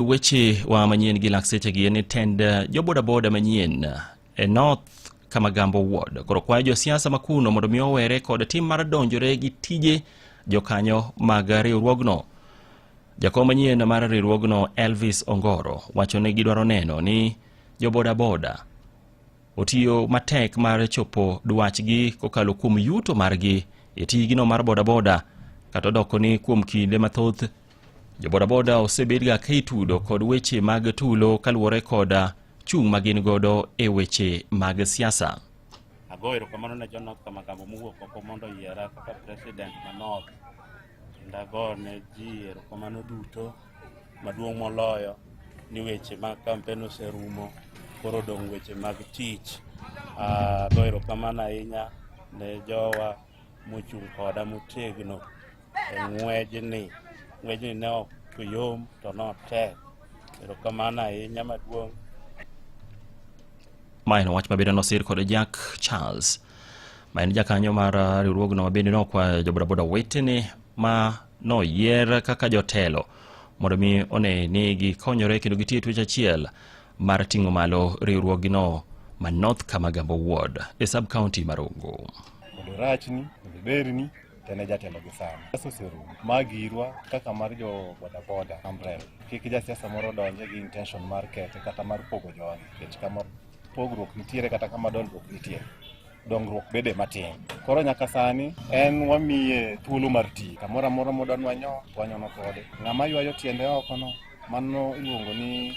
Weche wa manyien gi lakseche gi en ni tend eh, jobodaboda manyien eh, e North Kamagambo Ward koro kwayo josiasa makuno mondo mi owere kod tim mar donjore gi tije jokanyo mag riwruogno. Jakom manyien mar riwruogno Elvis Ongoro wacho ni gidwaro neno ni jobodaboda otiyo matek mar chopo dwachgi kokalo kuom yuto margi e tijgino mar bodaboda kata odoko ni kuom kinde mathoth Jobodaboda osebedga ka itudo kod weche mag tulo kaluwore koda chung' ma gin godo e weche mag siasa. Ago erokamano ne jo North Kamagambo mowuok oko mondo oyiera kaka president ma North. Kendo ago ne ji erokamano duto maduong' moloyo ni weche mag kampen oserumo koro odong' weche mag tich. Ago erokamano ahinya ne jowa mochung' koda motegno e ng'wejni. Ng'wejni ne ok yom to notek. Erokamano ahinya maduong'. Ma en wach mabende nosir kod Jack Charles ma en jakanyo mar uh, riwruogno mabende nokwayo jobodaboda wetene ma noyier kaka jotelo mondo mi one ni gikonyore kendo gitiyo e twech achiel mar ting'o malo riwruogino ma North Kamagambo Ward e sub county mar Ogo. Mondo rachni, mondo berni, tene jatelo gi sana. Sasa oserumo. Magirwa kaka mar jo bodaboda umbrella. Kik jasiasa moro donje gi intention mar kete kata mar pogo jogi. Kech kama pogruok nitiere kata kama dongruok nitiere. Dongruok bede matin. Koro nyaka sani en wamiye thuolo mar ti. Kamoro amora modwa nwanyo, wanyono kode. Ng'ama ywayo tiende oko no, mano iluongo ni